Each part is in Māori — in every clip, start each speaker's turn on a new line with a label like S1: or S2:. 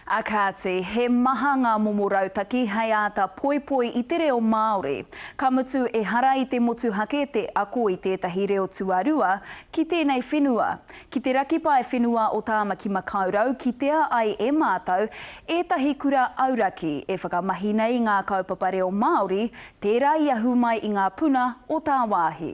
S1: Ā kāti, he maha ngā momo rautaki hei āta poipoi i te reo Māori. Ka mutu, ehara i te motuhake te ako i tētahi reo tuarua ki tēnei whenua. Ki te raki pae whenua o Tāmaki Makaurau kitea ai e mātou ētahi kura auraki e whakamahi nei ngā kaupapa reo Māori, tērā i ahu mai i ngā puna o tāwāhi.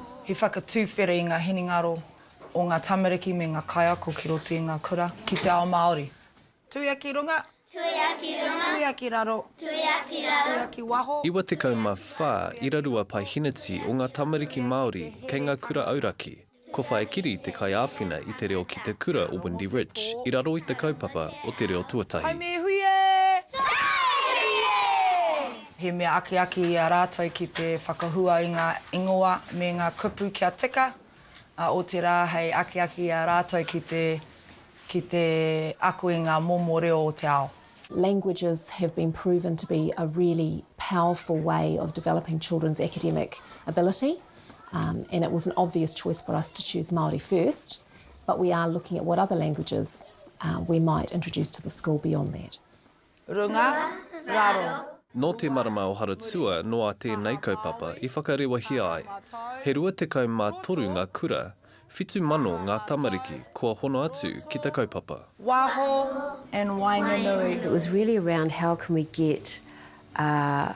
S2: He whakatuwhere i ngā hinengaro o ngā tamariki me ngā kaiako ki roto i ngā kura, ki te ao Māori. Tuiaki runga. Tuiaki
S3: runga. Tuiaki raro.
S2: Tuiaki
S3: raro.
S2: Tuiaki
S4: waho. 94 ira rua pae hineti o ngā tamariki Māori kei ngā kura auraki. Ko Whaekiri te kaiāwhina i te reo ki te kura o Windy Ridge i raro i te kaupapa o te reo tuatahi. Hai me hui
S2: e! Hai me hui e! He mea akiaki i a rātou ki te whakahua i ngā ingoa me ngā kupu kia tika, ā, otirā hei akiaki i a rātou ki te, ki te ako i ngā momo reo o te ao. Languages
S5: have been proven to be a really powerful way of developing children's academic ability and it was an obvious choice for us to choose Māori first but we are looking at what other languages we might introduce to the school beyond that. Runga,
S2: raro. Nō te marama
S4: o Haratua noa tēnei kaupapa i whakarewahia ai. He 23 ngā kura, 7,000 ngā tamariki kua hono atu ki te kaupapa. Waho
S2: and waenganui. It was really around
S6: how can we get a.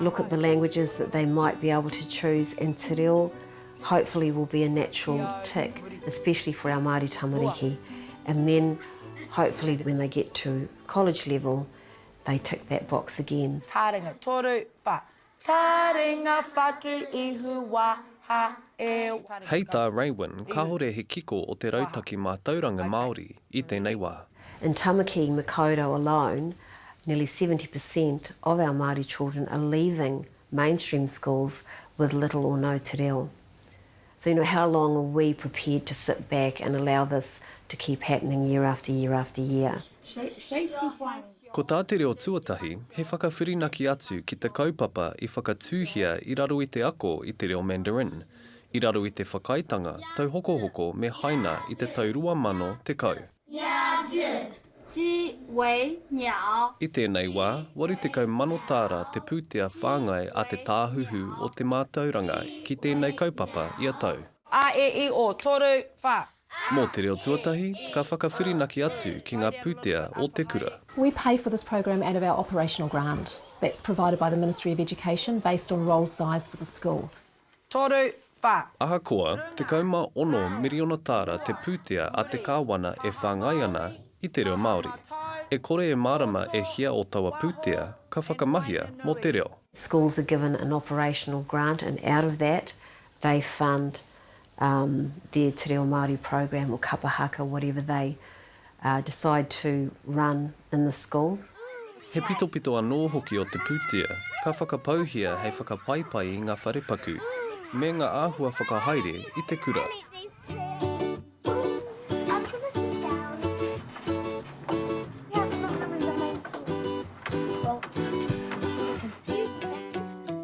S6: look at the languages that they might be able to choose and te reo hopefully will be a natural tick especially for our Māori tamariki and then hopefully when they get to college level they tick that box again. Taringa toru,
S2: wha. Taringa whatu ihu wa ha e. Hei tā
S4: Raewyn, kāore he kiko o te rautaki mātauranga Māori. i tēnei wā. In Tamaki
S6: Makaurau alone, nearly seventy per cent of our Māori children are leaving mainstream schools with little or no te reo. So you know, how long are we prepared to sit back and allow this to keep happening year after year after year?
S4: Ko tā te reo tuatahi, he whakawhirinaki atu ki te kaupapa i whakatūhia i raro i te ako i te reo Mandarin, I raro i te whakaaetanga tauhokohoko me Haina i te tau 2010. I tēnei wā, 80 mano tāra te pūtea whāngai a Te Tāhuhu o te Mātauranga ki tēnei kaupapa ia tau. A, e, i, o,
S2: toru, wha. Mō te reo
S4: tuatahi, ka whakawhirinaki atu ki ngā pūtea o te kura. We pay for this
S5: program out of our operational grant that's provided by the Ministry of Education based on roll size for the school. Toru,
S2: wha. Ahakoa, 16
S4: miriona tāra te pūtea a te Kāwana e whāngai ana i te reo Māori. E kore e mārama e hia o taua pūtea ka whakamahia mō te reo. Schools are given an
S6: operational grant and out of that they fund their Te Reo Māori program or Kapa Haka, whatever they decide to run in the school. He pitopito
S4: anō hoki o te pūtea ka whakapauhia hei whakapaipai i ngā wharepaku me ngā āhua whakahaere i te kura.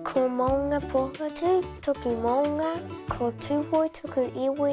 S3: Ko Maunga Pohatu
S7: toku maunga, ko Tūhoe toku iwi,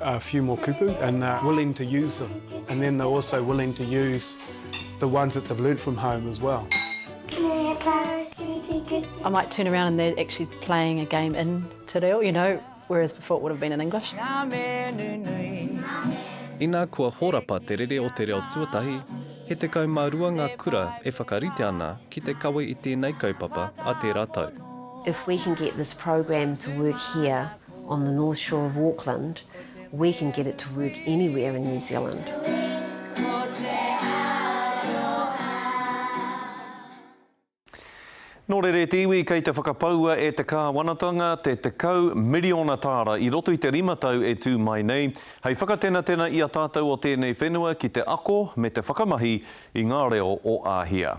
S8: a few more kupu and they're willing to use them and then they're also willing to use the ones that they've learnt from home as well.
S9: I might turn around and they're actually playing a game in Te Reo, you know, whereas before it would have been in English.
S4: Ina kua horapa te rere o te reo tuatahi, he tekau ma rua nga kura e whakarite ana ki te kawe i tenei kaupapa a tera tau. If we can
S6: get this program to work here, On the North Shore of Auckland, we can get it to work anywhere in New Zealand.
S10: Nō reira e te iwi kei te whakapaua e te Kāwanatanga te tekau miriona tāra i roto i te rima tau e tū mai nei, hei whakatenatena i a tātou o tēnei whenua ki te ako me te whakamahi i ngā reo o Āhia.